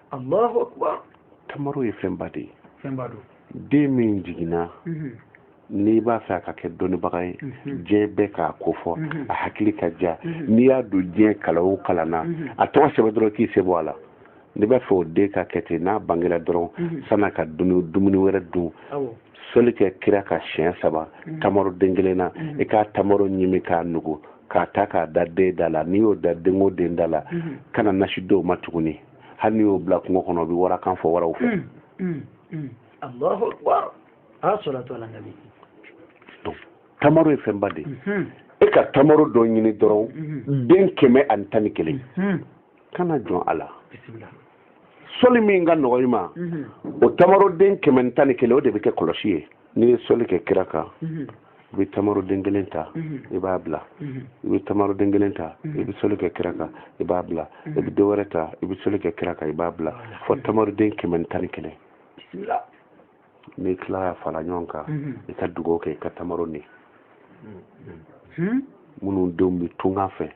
allahu akbar tamaro ye fɛnba de ye fɛnba don den min jiginna mhm. n'i b'a fɛ a ka kɛ dɔnnibaga ye mhm. diɲɛ bɛɛ k'a ko fɔ mhm. a hakili ka diya n'i y'a don diɲɛ kalan o kalan na a tɔgɔ sɛbɛn dɔrɔn k'i sen bɔ a la n'i b'a fɛ o den ka kɛ ten n'a bangera dɔrɔn san'a ka dumuni wɛrɛ dun soli kɛ kira kan siɲɛ saba tamaro den kelen na i ka tamaro ɲimi k'a nugu k'a ta k'a da den da la n'i y'o da den o den da la kana nasi d'o ma tuguni hali n'i y'o bila kungo kɔnɔ o bɛ warakan fɔ waraw fɛ. Hmm, hmm, allahu akbar as salatu ala nabi. donc tamaro ye fɛnba de ye. e ka tamaro dɔ ɲini dɔrɔn den kɛmɛ ani tan ni kelen kana jɔn a la. bisimila. soli min ka nɔgɔ i ma o tamaroden kɛmɛ ni tan ni kelen o de bɛ kɛ kɔlɔsi ye n'i ye soli kɛ kira kan i bɛ tamaro den kelen ta i b'a bila i bɛ tamaro den kelen ta i bɛ soli kɛ kira kan i b'a bila i bɛ dɔ wɛrɛ ta i bɛ soli kɛ kira kan i b'a bila fo tamaro den kɛmɛ ni tan ni kelen n'i tilala k'a fara ɲɔgɔn kan i ka dugawu kɛ i ka tamaro ni minnu denw bɛ tunga fɛ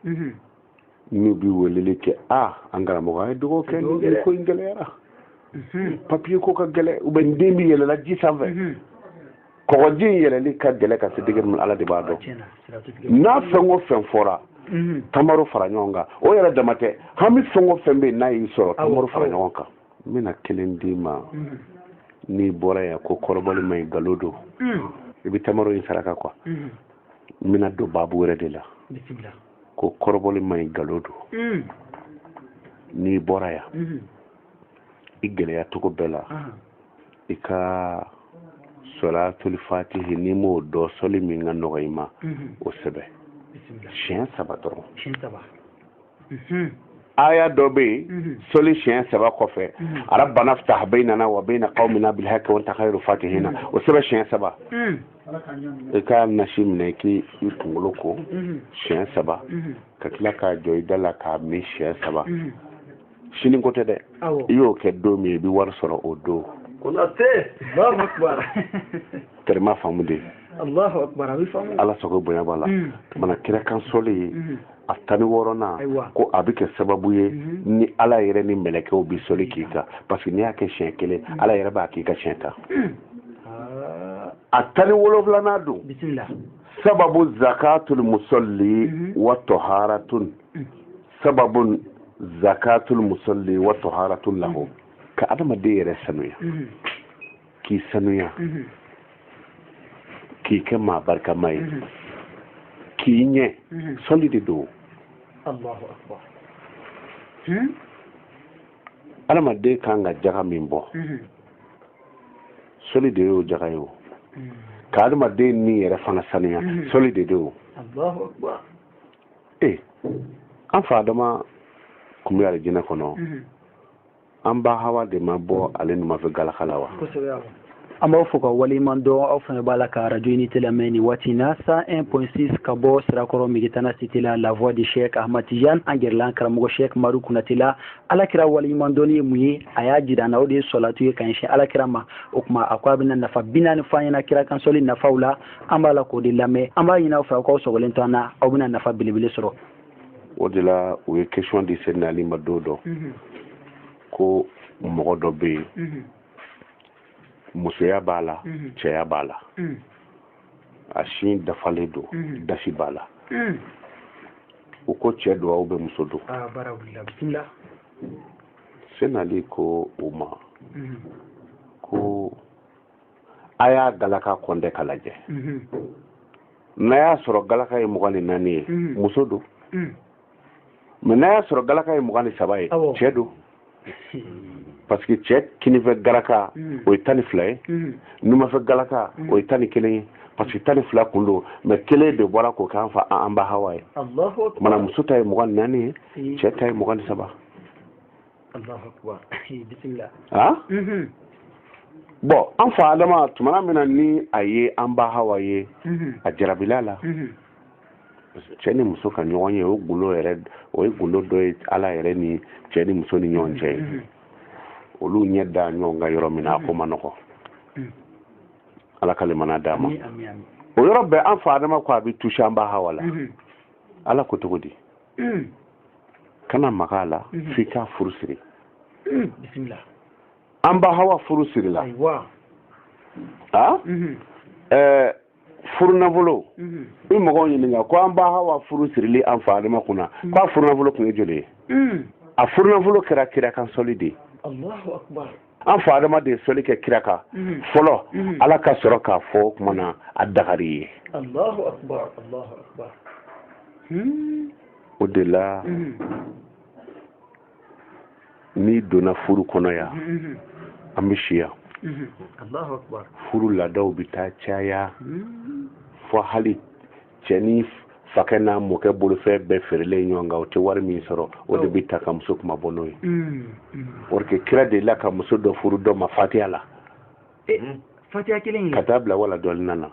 n'u bi weleli kɛ a an karamɔgɔ a ye dugawu kɛ nin ko in gɛlɛyara mhm. papiye ko ka gɛlɛ u bɛ n den bi yɛlɛla ji sanfɛ mhm. kɔgɔji in yɛlɛli ka gɛlɛ ka se degré min ala de b'a dɔn n'a fɛn o fɛn fɔra mhm. tamaro fara ɲɔgɔn kan o yɛrɛ dama tɛ hami fɛn o fɛn bɛ yen n'a y'i sɔrɔ tamaro fara ɲɔgɔn kan n bɛna kelen d'i ma n'i bɔra yan ko kɔrɔbɔli ma ɲi galon don i bɛ tamaro in saraka quoi n bɛna don baabu wɛrɛ de la ko kɔrɔbɔli ma ɲi nkalon don hmm. n'i bɔra yan hmm. i gɛlɛya cogo bɛɛ la i ka sɔlatuli fatihi n'i m'o dɔn sɔli min ka nɔgɔ i ma hmm. o sɛbɛn siɲɛ saba dɔrɔn aya dɔ bɛ yen sɔli siɲɛ saba kɔfɛ rabbana ftah bainana wa baina qaumina bil haqqi wa anta khairul fatihina o sɛbɛn siɲɛ saba i ka nasi minɛ k'i kunkolo ko mhm. siɲɛ saba mhm. ka tila k'a jɔ i da la k'a min siɲɛ saba mhm. sini ko tɛ dɛ i y'o kɛ don min i bɛ wari sɔrɔ o don allahu akbar terima faamu dɛ allahu akbar ala sago bonya b'a la mana kira kan sɔli ye a tan ni wɔɔrɔnan ko a bɛ kɛ sababu ye mhm. ni ala yɛrɛ ni mɛlɛkɛw bɛ sɔli k'i kan parce que n'i y'a kɛ siɲɛ kelen mhm. ala yɛrɛ b'a k'i kan siɲɛ tan ah. a tan ni wolonwulanan don sababu zakatul musalli mhm. wa taharatun sababu zakatul musalli wa taharatun lahu ka adamaden yɛrɛ sanuya k'i sanuya mhm. k'i kɛ maa barikama ye mhm. k'i ɲɛ mhm. sɔli de don adamaden hmm? kan ka jaga min bɔ sɔli de y'o jaga ye o ka adamaden ni yɛrɛ fana sanuya sɔli de don ee an fa adama kun bɛ alijinɛ kɔnɔ an ba hawa de ma bɔ ale numafɛ galaka la wa an b'aw fo ka waleɲuman dɔn aw fana b'a la ka radio unité lamɛn nin waati na 101.6 ka bɔ sirakɔrɔ megetana cité la la voix de chek ahmad tijan an gɛrɛla an karamɔgɔ chek madu kunate la alakira waleɲuman dɔnni ye mun ye a y'a jira an na o de ye sɔlatu ye ka ɲɛsin alakira ma o tuma a ko a bɛna nafa bi naani fɔ an ɲɛna kira kan sɔli nafaw la an b'a la k'o de lamɛn an b'a ɲini aw fɛ aw k'aw sɔgɔlen to an na aw bɛna nafa belebele sɔrɔ o de la u ye question di sɛdina ali ma don dɔ mhm. ko mɔgɔ dɔ bɛ yen mhm. musoya b'a la mhm. cɛya b'a la a sin dafalen don dasi b'a la u ko cɛ don ou bien muso don ah, sɛdina ali ko u ma ko a y'a galaka compter k'a lajɛ mhm. n'a y'a sɔrɔ galaka ye mugan ni naani ye mhm. muso don mhm. mais n'a y'a sɔrɔ galaka ye mugan ni saba ye cɛ don parce que cɛ kinifɛ galaka o ye tan ni fila ye numafɛ galaka o ye tan ni kelen ye parce que tan ni fila kun don mais kelen de bɔra k'o k'an fa an ba hawa ye mana muso ta ye mugan ni naani ye cɛ ta ye mugan ni saba allahu akbar bisimila bɔn an fa adama tumana min na ni a ye an ba hawa ye mhm. a jarabila la mhm. cɛ ni muso ka ɲɔgɔn ye o gundo yɛrɛ o ye gundo dɔ ye ala yɛrɛ ni cɛ ni muso ni ɲɔgɔn cɛ ye olu ɲɛ da ɲɔgɔn kan yɔrɔ min na a ko ma nɔgɔ ala ka limana d'a ma o yɔrɔ bɛɛ an fa adama ko a bɛ touché an ba hawa la ala ko cogo di mm. kana maga a la mm-hmm. f'i k'a furu siri bisimila an ba hawa furu sirila a mm-hmm. eh, furu nafolo mm-hmm. i mɔgɔw ɲininka ko an ba hawa furu sirili an fa adama kunna mm. k'a furu nafolo tun ye joli ye a furu nafolo kɛra kira kan sɔli de ye an fa adama de ye sɔli kɛ kira kan mhm. fɔlɔ mhm. ala ka sɔrɔ k'a fɔ o tuma na a dagar'i ye allahu akbar allahu akbar o de la mhm. n'i donna furu kɔnɔ yan an bɛ si yan allahu akbar furu laadaw bɛ taa caya hmm. fɔ hali cɛ ni fakɛ n'a mɔkɛ bolofɛn bɛɛ feerelen ɲɔgɔn kan o tɛ wari min sɔrɔ o de bɛ ta ka muso kunmabɔ n'o ye mm, mm. or que kira delila ka muso dɔ furu dɔ ma fatiya la eh, mm. fatiya kelen ka taa bila wala dɔɔlin na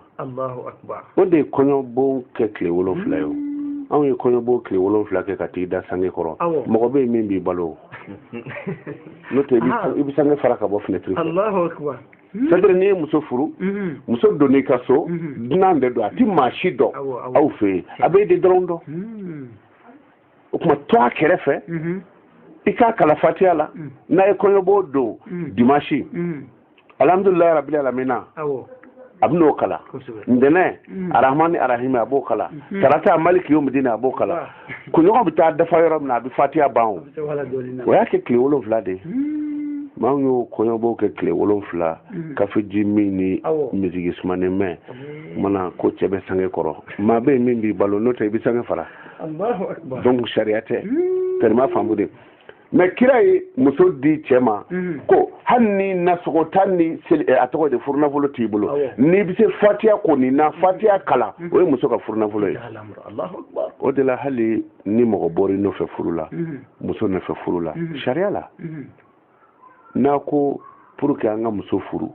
o de ye kɔɲɔbon kɛ tile wolonfila ye o anw ye kɔɲɔbon tile wolonfila kɛ ka t'i da sange kɔrɔ mɔgɔ bɛ yen min b'i balo n'o tɛ i bɛ sange fara ka bɔ finɛtiri fɛ Hmm. c'est-à-dire n'i ye muso furu hmm. muso donn'i ka so hmm. dunan de don a ti maa si dɔn aw fɛ yen a b'e de dɔrɔn dɔn o tuma to a kɛrɛfɛ i k'a kalan fatiya la n'a ye kɔɲɔbon don dimansi alhamdulilayi rabili alamina a bɛ n'o kalan ntɛnɛn arahmani arahimi a b'o kalan tarata maliki yomidini a b'o kalan kunɲɔgɔn bɛ taa dafa yɔrɔ min na a bɛ fatiya ban o o y'a kɛ tile wolonfila de ye hmm. mɛ anw y'o kɔɲɔbon kɛ tile wolonfila hmm. kafeji min ni miziki sumanen mɛn mana ko cɛ bɛ sange kɔrɔ maa bɛ yen min b'i balo n'o tɛ i bɛ sange fara donc sariya tɛ tellement faamu de mɛ kira ye muso di cɛ ma mhm. ko hali ni nasɔngɔ tan ni eh, a tɔgɔ de furunafolo t'i bolo n'i bɛ se fatiya kɔni na mhm. fatiya kalan mhm. o ye muso ka furunafolo ye o de la hali ni mɔgɔ bɔra i nɔfɛ furu la muso nɔfɛ furu la sariya la n'a ko pour que an ka muso furu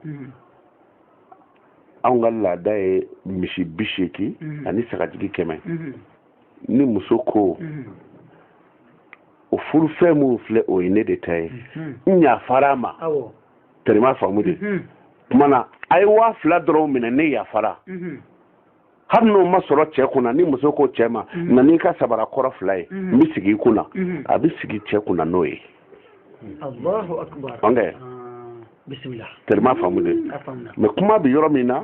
anw ka laada ye misi bi seegin ani sagajigi kɛmɛ ni muso ko mhm. o furu fɛn min filɛ o ye ne de ta ye mhm. n yafara a ma tɛrɛma faamu de mhm. kuma na a ye waa fila dɔrɔn minɛ ne yafara hali n'o ma sɔrɔ cɛ kunna ni muso ko cɛ ma na n'i ka sabara kɔrɔ fila ye n bɛ sigi i kunna a bɛ sigi cɛ kunna n'o ye allahu akbar bismillah tɛrɛma faamu de mɛ kuma bɛ yɔrɔ min na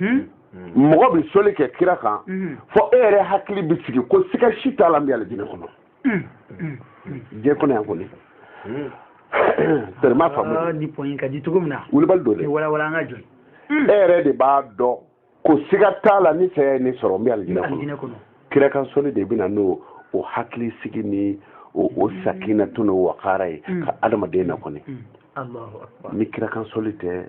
hmm? hmm. mɔgɔ bɛ soli kɛ kira kan hmm. fɔ e yɛrɛ hakili bɛ sigi ko siga si t'a la n bɛ alijinɛ kɔnɔ diɲɛ kɔnɔ yan kɔni tɛrɛma faamu ah, ni pɔnyi ka di cogo min na wulibali don dɛ walawala an ka jɔ e yɛrɛ de b'a dɔn ko siga t'a la ni saya ye ne sɔrɔ n bɛ alijinɛ kɔnɔ kira kan soli de bɛ na n'o hakili sigi ni o sakinatun n'o wakara ye ka adamaden na kɔni ni kira kan soli tɛ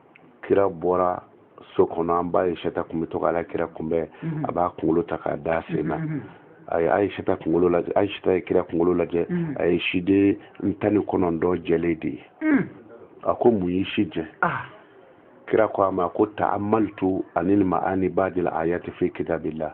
kira bɔra so kɔnɔ an ba ayisata kun bɛ to k'ala kira kunbɛn mhm. a b'a kunkolo ta k'a da sen na mhm. a ye ayisata kunkolo lajɛ ayisata ye kira kunkolo lajɛ mhm. a ye siden tan ni kɔnɔntɔn jɛlen de ye a ko mun y'i si jɛ ah. kira ko a ma ko ta'ammaltu anil ma'ani ba'dil ayati fi kitabillah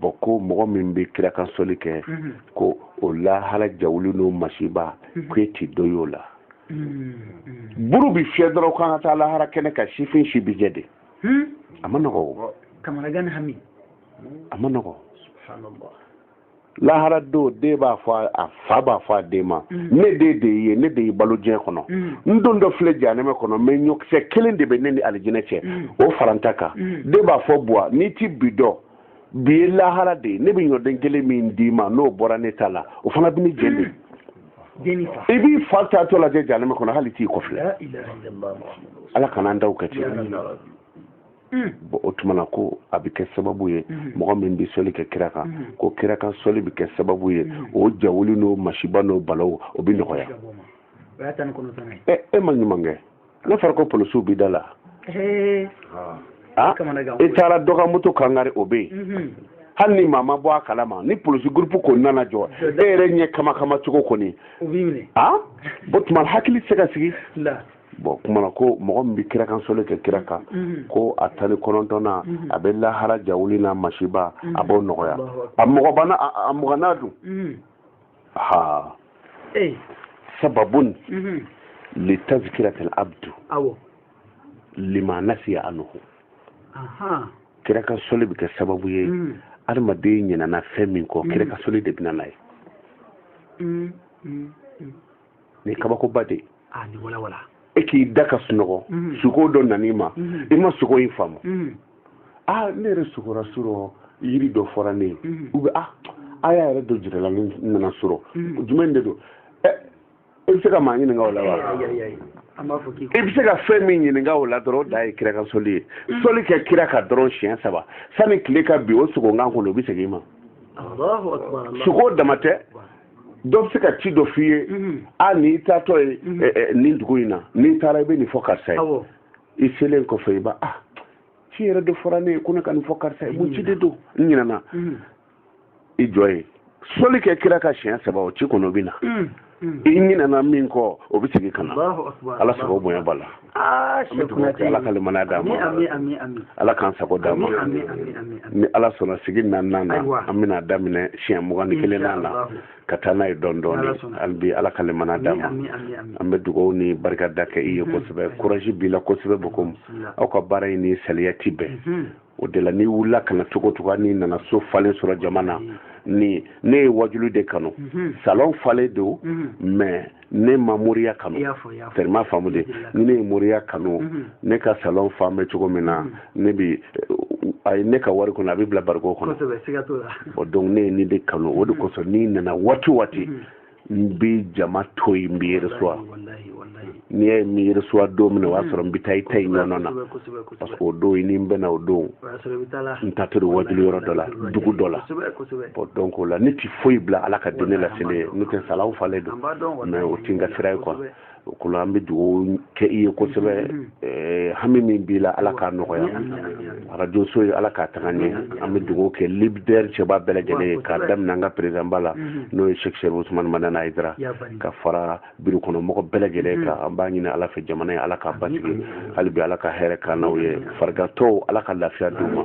bɔn ko mɔgɔ min bɛ kira kan sɔli kɛ mhm. ko o lahara jawuli n'o masiba mhm. ko e ti dɔ y'o la mhm. buru bi fiyɛ dɔrɔn k'an ka taa lahara kɛnɛ kan sifin si bi jɛ de hmm? a man nɔgɔ o a man nɔgɔ lahara don den b'a fɔ a fa b'a fɔ a den ma mm. ne den de ye ne de y'i balo diɲɛ kɔnɔ mm. n dontɔ filɛ janɛmɛ kɔnɔ mɛ ɲɔkisɛ kelen de bɛ ne ni alijinɛ cɛ mm. o fara n ta kan den b'a fɔ buwa n'i ti bi dɔn bi ye lahara de ye ne bɛ ɲɔden kelen min d'i ma n'o bɔra ne ta la o fana bɛ ne jeni de i b'i fa taatɔ lajɛ janɛmɛ kɔnɔ hali t'i kɔfilɛ ala kana an daw kɛ ten bɔn o tuma na ko a bɛ kɛ sababu ye mɔgɔ min bɛ sɔli kɛ kira kan ko kira kan sɔli bɛ kɛ sababu ye o jawuli n'o masiba n'o balaw o bɛ nɔgɔya e ma ɲuman kɛ n'a fɔra ko polisiw b'i da la ah, e taara dɔ ka moto kan kari o bɛ yen hali ni maa ma bɔ a kalama ni polisi gurupu kɔni nana jɔ e yɛrɛ ɲɛ kama kama cogo kɔni bɔn o tuma hakili tɛ se ka sigi bɔn kuma na ko mɔgɔ min bɛ kira kan soli kɛ kira kan mhm. ko a tan ni kɔnɔntɔnnan mhm. a bɛ lahara jawuli n'a masiba mhm. a b'o nɔgɔya a mugannan dun ha sababun li tazkiratil abdu lima nasiya anhu kira kan soli bɛ kɛ sababu ye adamaden ɲinana fɛn min kɔ kira kan soli de bɛ na n'a ye nin kabakoba de ah, e k'i da ka sunɔgɔ mhm. suko dɔ nan'i ma mhm. i ma suko in faamu mhm. a ah, ne yɛrɛ sugora surɔ yiri dɔ fɔra ne ye u bɛ a a y'a yɛrɛ dɔ jirala ne nana surɔ jumɛn de don ɛ eh, i bɛ se ka maa ɲininka o la wa i bɛ se ka fɛn min ɲininka o la dɔrɔn o da ye kira ka soli ye soli kɛ kira ka dɔrɔn siɲɛ saba sani tile ka bin o suko kan kɔnɔ o bɛ segin i ma suko dama tɛ dɔ bɛ se ka ci dɔ f'i ye mhm. a n'i taatɔ ye mhm. eh, eh, nin dugu in na n'i taara i bɛ nin fɔ karisa ye i selen kɔfɛ i b'a ah, ci yɛrɛ de fɔra ne ye ko ne ka nin fɔ karisa ye mun ci de don n ɲinɛna mhm. i jɔ ye soli kɛ kira ka siɲɛ saba o ci kɔnɔ o bɛ na i ɲinɛna min kɔ o bɛ segin ka na ala sago bonya b'a la ala ka limaniya d'an ma ala k'an sago d'an ma ni ala sɔnna sigi naaninan na an bɛna daminɛ siɲɛ mugan ni kelennan na ka taa n'a ye dɔɔni dɔɔni hali bi ala ka limaniya d'an ma an bɛ dugawu ni barika da kɛ i ye kosɛbɛ kuraji b'i la kosɛbɛ bokomu aw ka baara in ni saliya ti bɛn o de la n'i wulila ka na cogo cogo n'i nana so falen sɔrɔ jama na mm. ni ne ye wajulu de kanu mm-hmm. salon falen don mm-hmm. mais ne ma moriya kanu tellement faamu de ni ne ye moriya kanu mm-hmm. ne ka salon fan bɛ cogo min na ne bi a ye ne ka wari kɔnɔ a bɛ bila bariko kɔnɔ donc ne ye nin de kanu o de kosɔn n'i nana waati waati n bɛ jama to yen n bɛ reçoit n'i y'a ye n bɛ reçoit don min na o y'a sɔrɔ n bɛ taa i ta in ɲɔgɔn na parce que o don i ni n bɛna o don n taatɔ don wajuli yɔrɔ dɔ la dugu dɔ la bon donc o la ne ti foyi bila ala ka diinɛ laseli ɲɛ n'o tɛ salon falen don mais o ti n ka sira ye quoi o kɔnɔ an bɛ dugawu kɛ i ye kosɛbɛ mm-hmm. eh, hami min b'i la ala k'a nɔgɔya mm-hmm. arajo so ye ala k'a taga ɲɛ mm-hmm. an bɛ dugawu kɛ lidɛri cɛba bɛɛ lajɛlen ye k'a daminɛ an ka perezanba la n'o ye sɛki serifu usumani madani ayidara ka fara biro kɔnɔ mɔgɔ bɛɛ lajɛlen kan an b'a ɲini ala fɛ jamana ye ala k'a basigi hali bi ala ka hɛrɛ k'an n'aw ye farigatɔw ala ka lafiya d'u ma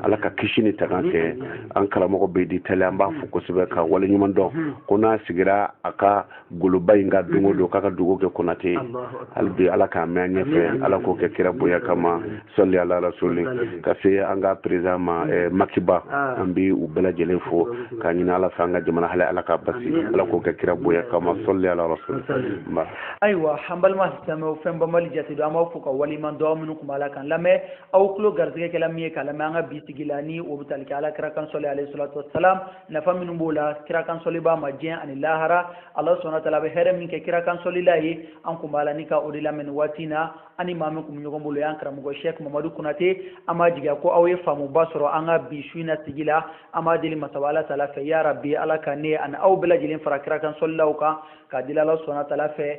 ala ka kisi ni tanga kɛ an karamɔgɔ bɛ di tali an b'a fo kosɛbɛ ka waleɲuman dɔn ko n'a sigira a ka goloba in kan don o don k'a ka dugawu kɛ konate hali bi ala k'a mɛn an ɲɛfɛ ala k'o kɛ kira bonya kama sɔli ala rasuli ka se an ka perezan ma eh, makiba ah. an bi u bɛɛ lajɛlen fo k'a ɲini ala fɛ an ka jamana hali ala k'a basi ala k'o kɛ kira bonya kama sɔli ala rasuli nba ayiwa an balima silamɛw fɛn banbali jate don an b'aw fo ka waleɲuman dɔn aw minnu kun b'a la k'an lamɛn aw tulo garisigɛ kɛla min ye k'a lamɛn an ka bi sigi la ni o bɛ tali kɛ ala kira kan sɔli alayhi salatu wasalam nafa minnu b'o la kira kan sɔlibaa ma diɲɛ ani lahara ala subhanahu wa taala bɛ hɛrɛ min kɛ kira kan sɔlila ye an kun b'a la ni ka o de lamɛn waati na an ni maa min kun bɛ ɲɔgɔn bolo y'an karamɔgɔ shɛk mamadu konate an b'a jigiya ko aw ye faamuba sɔrɔ an ka bi su in na sigi la an b'a deli masaba ala taala fɛ ya rabi ala ka ne ani aw bɛɛ lajɛlen fara kira kan sɔlilaw kan k'a deli ala subhanahu wa taala fɛ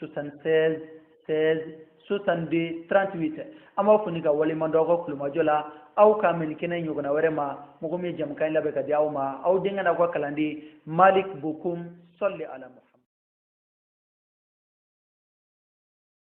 76 16 62 38 an b'aw fo ni ka waleɲuman dɔn aw ka kulomajɔ la aw ka mɛn kɛnɛ ɲɔgɔnna wɛrɛ ma mɔgɔ min ye jamukan in labɛn ka di aw ma aw denkɛ n'aw ka kalanden malik bokum sɔli ala muhammad